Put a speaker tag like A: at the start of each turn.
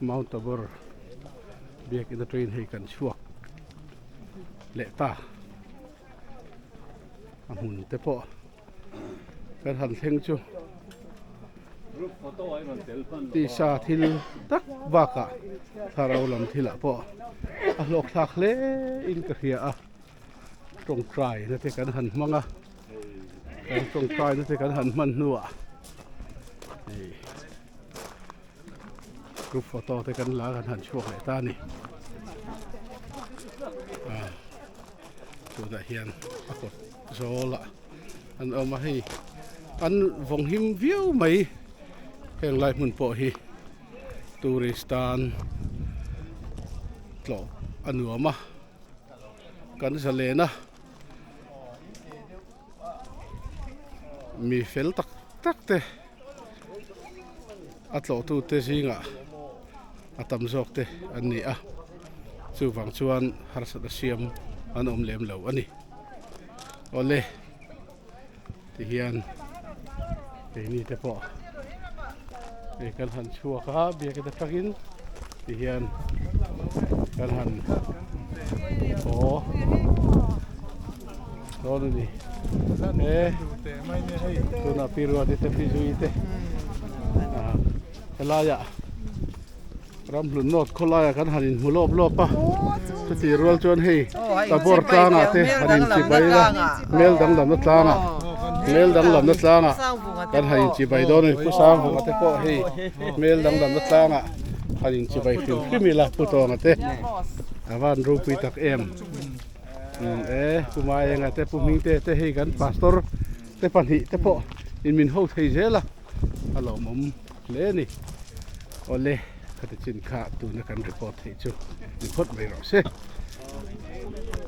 A: Mount Tabor biakin a train hei kan chhuak leh ta a hmun te pawh kan han thleng chu tisa thil tak bakah thlarau lam thilah pawh a hlawkthlak hle in ka hria a. tawngtai na te kan han hmang a kan tawngtai na te kan han hman hnuah hei group photo te kan la kan han chhuak leh ta a ni ah tunah hian a kawt zawl ah an awm a hei an vawng him viau mai heng lai hmun pawh hi tourist tan tlawh a nuam a Kan za len a, mi fel tak tak te, a tlawhtu te zingah a tam zawk te an ni a, chuvang chuan harsat a siam an awm lem lo a ni. Awle. ti hian keini te pawh hei kan han chhuak a biak ata tangin ti hian kan han haw dawn a ni e tunah piruate te pizui te a helaia Ramhlun North khawlaia kan han inhmu lawp lawp a, chutih rual chuan hei Tabor tlangah te han inchibai a, Mel dang lamna tlangah, Mel dang lamna tlangah kan han inchibai dawn a ni. Pu Sanghunga te pawh hei Mel dang lamna tlangah han inchibai fim fim ila, Pu Tawnga te, a van ropui tak em e, Pu Maenga te, Pu Hmingte te hei kan Pastor te pahnih te pawh in min ho thei zel a, a lawmawm. Hle a ni. Awle, khatichin kha tuna kan report theih chu ni phawt mai rawh se.